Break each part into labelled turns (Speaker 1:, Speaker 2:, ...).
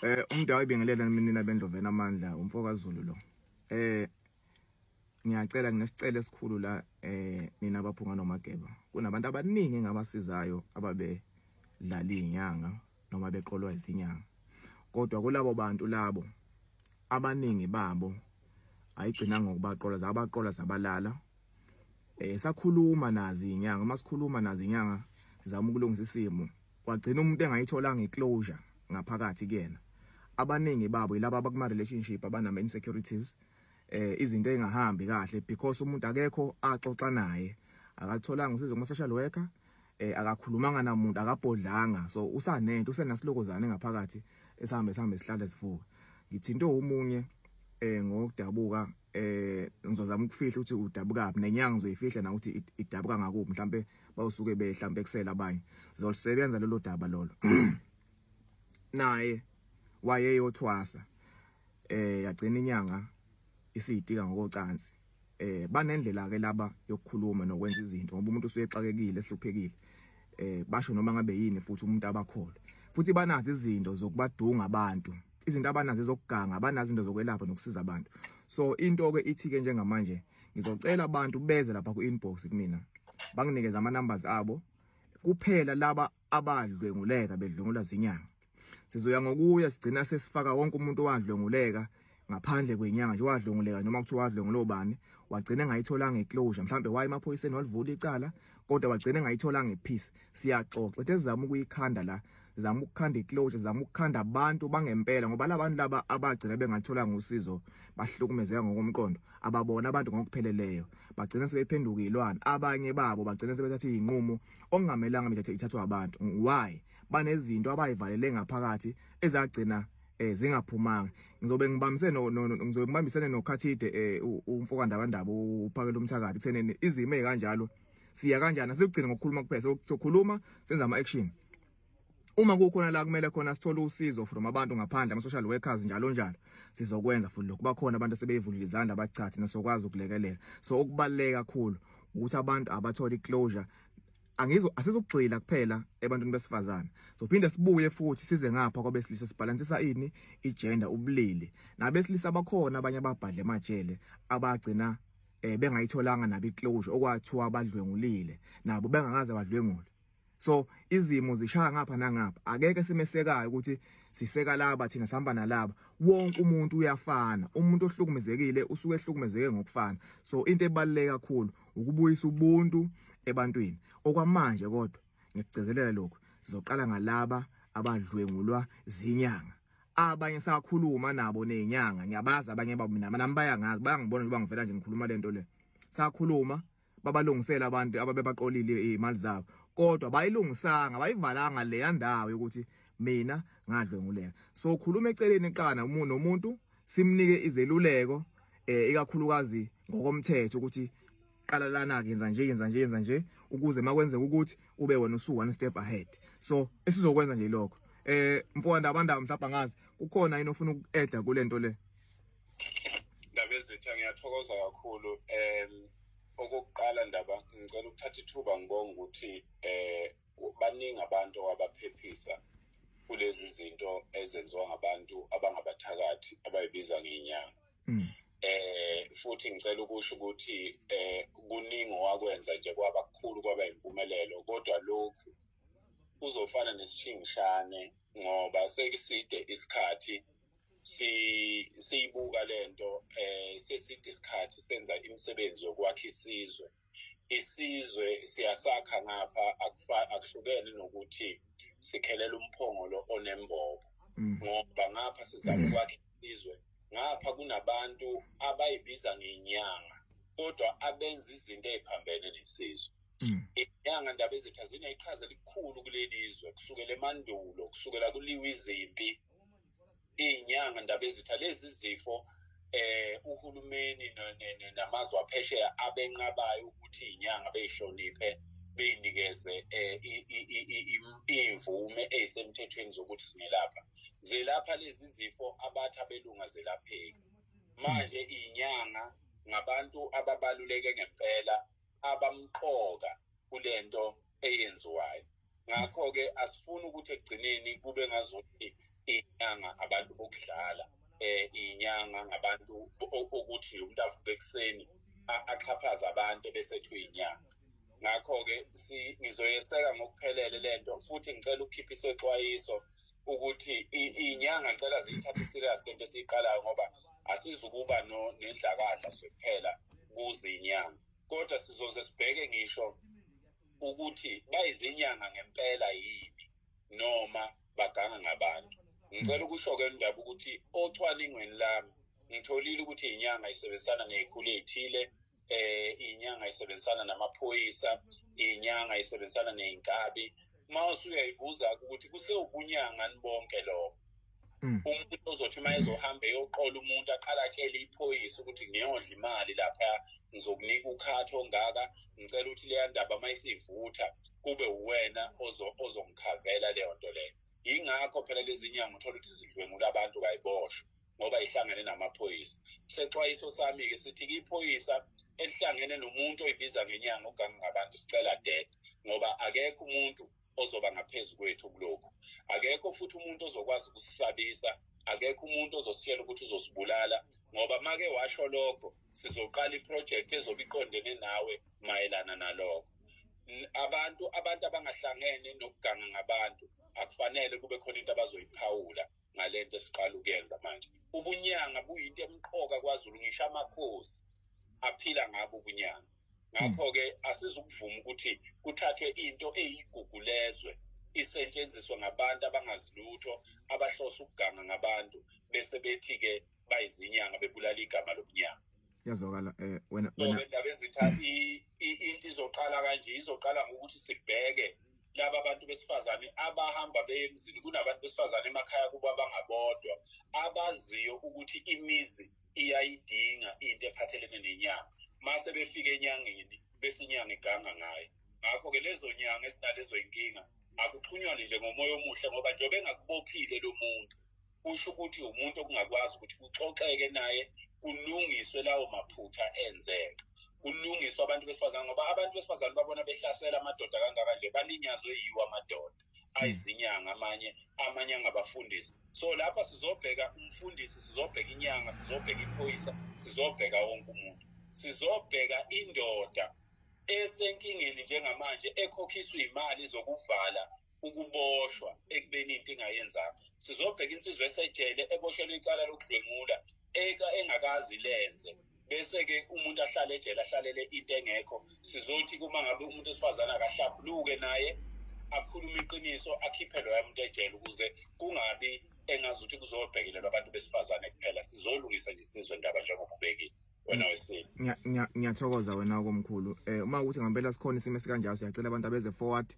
Speaker 1: Eh umntu awibingelela mina bendlovena amandla umfokaZulu lo. Eh ngiyacela nginesicelo esikhulu la eh nina abaphunga nomageba. Kunabantu abaningi ngabasizayo ababe dlala izinyanga noma beqolwa izinyanga. Kodwa kulabo bantu labo abaningi babo ayigcina ngokubaqola zabaqola zabalala Eh sakhuluma nazi inyanga masikhuluma nazi inyanga sizama ukulungisa isimo wagcina umuntu engayitholanga iclosure ngaphakathi kuyena abaningi babo yilabo abakuma relationship abanama insecurities eh izinto engahambi kahle because umuntu akekho axoxa naye akatholanga usizo kuma social worker eh akakhulumanga namuntu akabhodlanga so usanento usenasilokozane ngaphakathi esihambe sihambe sihlale sivuka ngithinto umunye eh ngokudabuka eh ngizozama ukufihla ukuthi udabukaphi nenyanga ngizoyifihla na ukuthi idabuka ngakuphi mhlambe bawusuke behlambe kusela abanye zolisebenza lelo daba lolo naye wayeyothwasa eh yagcina inyanga isiyitika ngokocansi eh banendlela ke laba yokukhuluma nokwenza izinto ngoba umuntu usuyexakekile ehluphekile eh basho noma ngabe yini futhi umuntu abakhole futhi banazi izinto zokubadunga abantu izinto abanazo ezokuganga abanazo into zokwelapha nokusiza abantu so into ke ithi ke njengamanje ngizocela abantu beze lapha ku inbox kumina banginikeza ama numbers abo kuphela laba abadlwenguleka bedlwengula zinyanga sizoya ngokuya sigcina sesifaka wonke umuntu owadlwenguleka ngaphandle kwenyanga nje wadlwenguleka noma kuthiwa wadlwengula obani wagcina engayitholanga iclosure mhlambe waye emaphoyiseni walivula icala kodwa wagcina engayitholanga ipeace siyaxoxa ethe zama ukuyikhanda la zama ukukhanda iclosure zama ukukhanda abantu bangempela ngoba labantu laba abagcina bengathola ngosizo bahlukumezeka ngokomqondo ababona abantu ngokupheleleyo bagcina sebephenduka ilwana abanye babo bagcina sebethatha izinqumo okungamelanga bethathe ithathwa abantu why banezinto abayivalele ngaphakathi ezagcina eh zingaphumanga ngizobe ngibambise no ngizobe ngibambisene nokhathide eh umfokandabandaba uphakela umthakathi kutheneni izimo ezikanjalo siya kanjani asikugcine ngokukhuluma kuphela sokhuluma senza ama action uma kukhona la kumele khona sithole usizo from abantu ngaphandle ama social workers njalo njalo sizokwenza futhi lokho bakhona abantu sebeyivulile izandla abachathi nasokwazi ukulekelela so okubaleka kakhulu ukuthi abantu abathole iclosure angizo asizokugxila kuphela ebantwini besifazana sophinde sibuye futhi size ngapha kwabesilisa sibhalansisa ini igender ubulili nabesilisa bakhona abanye ababhadle emajele abagcina eh bengayitholanga nabi closure okwathiwa badlwengulile nabo bengakaze badlwengule so izimo zishaya ngapha nangapha akeke simesekayo ukuthi siseka laba thina sihamba nalaba wonke umuntu uyafana umuntu ohlukumezekile usuke ehlukumezeke ngokufana so into ebaluleke kakhulu ukubuyisa ubuntu ebantwini okwamanje kodwa ngikugcizelela lokhu sizoqala ngalaba abadlwengulwa zinyanga abanye sakhuluma nabo nezinyanga ngiyabazi abanye babo mina nami bayangazi bayangibona njengoba ngivela nje ngikhuluma lento le sakhuluma babalungisela abantu ababebaqolile imali zabo kodwa bayilungisanga bayivalanga le yandawo yokuthi mina ngadlwenguleka so khuluma eceleni qana umuntu nomuntu simnike izeluleko eh ikakhulukazi ngokomthetho ukuthi qala lana ke yenza nje yenza nje yenza nje ukuze makwenzeka ukuthi ube wena usu one step ahead so esizokwenza nje lokho eh mfowanda abandaba mhlawumbe angazi kukhona yini ofuna uku-eda kule nto le ndaba ezitha
Speaker 2: ngiyathokoza kakhulu um okokuqala ndaba ngicela ukuthatha ithuba ngibonga ukuthi um baningi abantu abaphephisa kulezi zinto ezenziwa ngabantu abangabathakathi abayibiza ngenyanga mm. eh futhi ngicela ukusho ukuthi eh kuningi owakwenza nje kwaba kukhulu kwaba impumelelo kodwa lokhu kuzofana nesishingishane ngoba sekuside isikhathi siyibuka lento eh seside isikhathi senza imisebenzi yokwakha isizwe isizwe siyasakha ngapha akuhlukene nokuthi sikhelela umphongolo onembobo mm. ngoba ngapha sizama mm. ukwakha isizwe ngapha kunabantu abayibiza ngenyanga kodwa abenza izinto eziphambene nesizwe mm. inyanga ndaba ezitha zineqhaza elikhulu kuleli zwe kusukela emandulo kusukela kuliwa izimpi iy'nyanga ndaba ezitha lezi zifo eh uhulumeni namazwe aphesheya abenqabayo ukuthi inyanga beyihloniphe beyinikeze eh, imvume ezisemthethweni zokuthi singelapha zelapha lezi zifo abathi abelunga zelapheki manje inyanga ngabantu ababaluleke ngempela abamqoka kulento eyenziwayo ngakho-ke asifuni ukuthi ekugcineni kube ngazothi inyanga abantu bokudlala um inyanga ngabantu okuthi umuntu avuke ekuseni axhaphaze abantu ebesethu inyanga ngakho-ke ngizoyeseka ngokuphelele le nto futhi ngicela ukukhipha isexwayiso ukuthi iy'nyanga ngicela ziyithathe iserious le nto esiyiqalayo ngoba asizukuba nendlakadla nje kuphela kuze inyanga kodwa sizoze sibheke ngisho ukuthi bayizinyanga ngempela yini noma baganga ngabantu ngicela ukusho-ke ndaba ukuthi ocwaningweni lami ngitholile ukuthi inyanga isebenzisana nezikhulu ezithile eh inyanga isebenzisana namaphoyisa inyanga isebenzisana nezinkabi uma usuyayibuza ukuthi kusewubunyanga nibonke lokho Mm. umuntu ozothi uma ezohamba eyoqola umuntu aqale atshele iphoyisa ukuthi ngiyodla imali lapha ngizokunika ukhathi ongaka ngicela ukuthi leya ndaba uma isivutha kube uwena ozo- ozongikhavela leyo nto leyo yingakho phela lezi nyanga uthola ukuthi zidlwengula abantu kayiboshwa ngoba ihlangene namaphoyisa sexwayiso sami-ke sithi-ke iphoyisa elihlangene nomuntu oyibiza ngenyanga ogange ngabantu sicela dead ngoba akekho umuntu ozoba ngaphezu kwethu kulokhu akekho futhi umuntu ozokwazi ukusisabisa akekho umuntu ozositshela ukuthi uzosibulala ngoba make washo lokho sizoqala iprojekthi ezobe iqondene nawe mayelana nalokho abantu abantu abangahlangene nokuganga ngabantu akufanele kube khona into abazoyiphawula ngalento esiqala ukuyenza manje ubunyanga buyinto emqoka kwaZulu ngisho amakhosi aphila ngabo ubunyanga ngakho ke asizukuvuma ukuthi kuthathwe into eyigugu lezwe isetshenziswe ngabantu abangazilutho abahlose ukuganga ngabantu bese bethi-ke bayizinyanga bebulala igama lobunyanga yazokala
Speaker 1: um eh, wena wena ndaba ezitha
Speaker 2: into izoqala kanje izoqala ngokuthi sibheke laba bantu besifazane abahamba beye emzini kunabantu besifazane emakhaya kubo abangabodwa abaziyo ukuthi imizi iyayidinga into ephathelene nenyanga mase befika enyangeni bese inyanga iganga ngayo ngakho-ke lezo nyanga ezinalezo yinkinga akuxhunywane nje ngomoya omuhle ngoba njengoba engakubophile lo muntu kusho ukuthi umuntu okungakwazi ukuthi kuxoxeke naye kulungiswe lawo maphutha enzeka kulungiswe abantu besifazane ngoba abantu besifazane babona behlasela amadoda kangaka nje balinyazwe yiwo amadoda hmm. ayizinyanga amanye amanye angabafundisi so lapha sizobheka umfundisi sizobheka inyanga sizobheka iphoyisa sizobheka wonke umuntu sizobheka indoda esenkingeni njengamanje ekhokhiswa imali zokuvala ukuboshwa ekubeni into ingayenzanga sizobheka insizwa esejele eboshelwe icala lokudlwengula eka engakazi lenze bese-ke umuntu ahlale ejele ahlalele into engekho sizothi kuma ngabe umuntu wesifazane akahlabuluke naye akhulume iqiniso akhiphe loya muntu ejele ukuze kungabi engazi ukuthi kuzobhekelelwa abantu besifazane kuphela sizolungisa nje sizwe ndaba njengoba ubekile wena wesini ngiyathokoza
Speaker 1: wena komkhulu eh uma ukuthi ngempela sikhona isimo esikanjalo siyacela abantu abeze forward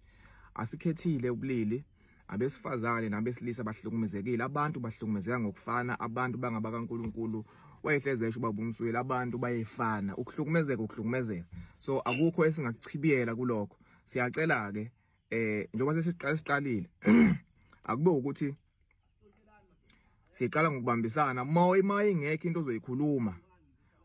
Speaker 1: asikhethile ubulili abesifazane nabesilisa bahlukumezekile abantu bahlukumezeka ngokufana abantu bangaba kaNkuluNkulu wayehleze esho ubaba umsweli abantu bayefana ukuhlukumezeka ukuhlukumezeka so akukho esingakuchibiyela kulokho siyacela ke eh njengoba sesiqala siqalile akube ukuthi siqala ngokubambisana uma ima ingekho into ozoyikhuluma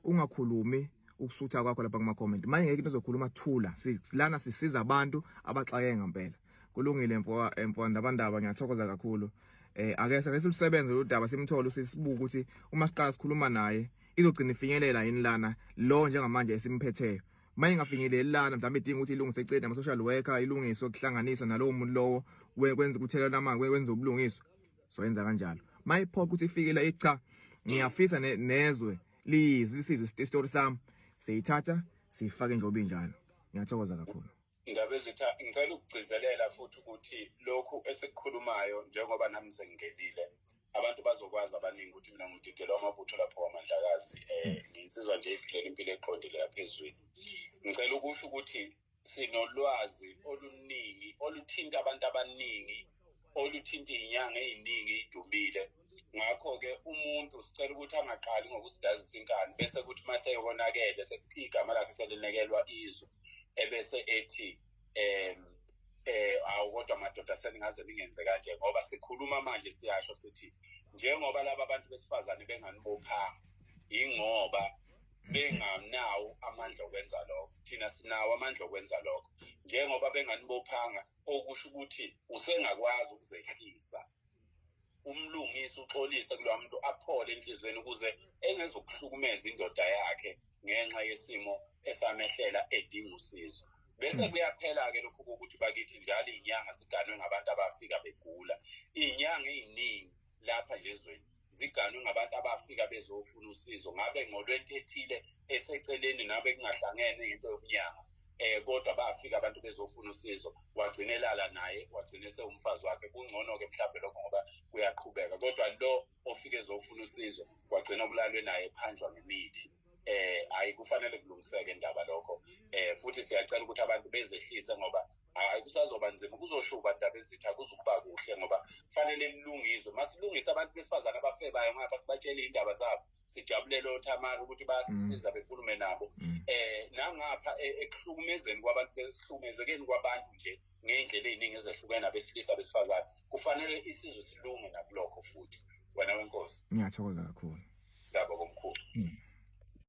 Speaker 1: ungakhulumi ukusutha kwakho lapha kuma comment manje ngeke into ozokhuluma thula silana sisiza abantu abaxake ngempela kulungile mfo mfo ndabandaba ngiyathokoza kakhulu eh ake sake silusebenze lo daba simthole usisibuka ukuthi uma siqala sikhuluma naye izogcina ifinyelela yini lana lo njengamanje esimphetheyo uma ingafinyeleli lana mhlawumbe idinga ukuthi ilungise icede ama-social worker ilungiswe kuhlanganiswa nalowo muntu lowo kwenza ukuthelelana amanzi kwenza ubulungiswa so yenza kanjalo uma iphoqa ukuthi ifike la icha ngiyafisa nezwe liyizwe lisizwe isitori sami siyithatha siyifake nje obinjalo ngiyathokoza kakhulu ngabezitha
Speaker 2: ngicela ukugcizelela futhi ukuthi lokhu esikukhulumayo njengoba nami sengingenile abantu bazokwazi abaningi ukuthi mina ngididelwa amabutho lapho wamandlakazi um eh, hmm. nginsizwa nje iphilela impilo eqondile lapha ezweni ngicela ukusho ukuthi sinolwazi oluningi oluthinta abantu abaningi oluthinta iy'nyanga ey'ningi ey'dumile ngakho-ke umuntu sicela ukuthi angaqali ngokusidazisa inkani bese kuthi uma seyokonakele igama lakhe selinekelwa izwe ebese ethi um eh awu kodwa madoda seningaze ningenze kanje ngoba sikhuluma manje siyasho sithi njengoba laba bantu besifazane benganibophanga yingoba benganawo amandla okwenza lokho thina sinawo amandla okwenza lokho njengoba benganibophanga okusho ukuthi usengakwazi ukuzehlisa umlungisi uxolise kulowa muntu aphole enhliziyweni ukuze engezokuhlukumeza indoda yakhe ngenxa yesimo esamehlela edinga usizo bese hmm. kuyaphela-ke lokhu kokuthi bakithi njalo iy'nyanga siganwe ngabantu abafika begula iy'nyanga ey'ningi lapha nje ezweni ziganwe ngabantu abafika bezofuna usizo ngabe ngolwentethile eseceleni nabe kungahlangene ngento yokunyanga eh kodwa bafika abantu bezofuna usizo wagcina elala naye wagcina esewumfazi wakhe kungcono-ke mhlawumbe lokho ngoba kuyaqhubeka kodwa lo ofike ezofuna usizo wagcina kulalwe naye phanjwa ngemithi eh hayi kufanele kulungiseke indaba lokho eh futhi siyacela ukuthi abantu bezehlise ngoba hayi kusazoba nzima kuzoshuba ndaba ezithi akuzukuba kuhle ngoba kufanele lilungiswe masilungise abantu besifazane abafebayo ngapha sibatshele iy'ndaba zabo sijabulele othamari ukuthi bayasiza mm. bekhulume nabo mm. eh nangapha e, ekuhlukumezeni kwabantu besihlukumezekeni kwabantu nje ngey'ndlela ey'ningi ezehlukene abesilisa besifazane kufanele isizwe silunge nakulokho futhi wena wenkosi ngiyathokoza kakhulu ngaba komkhulu mm.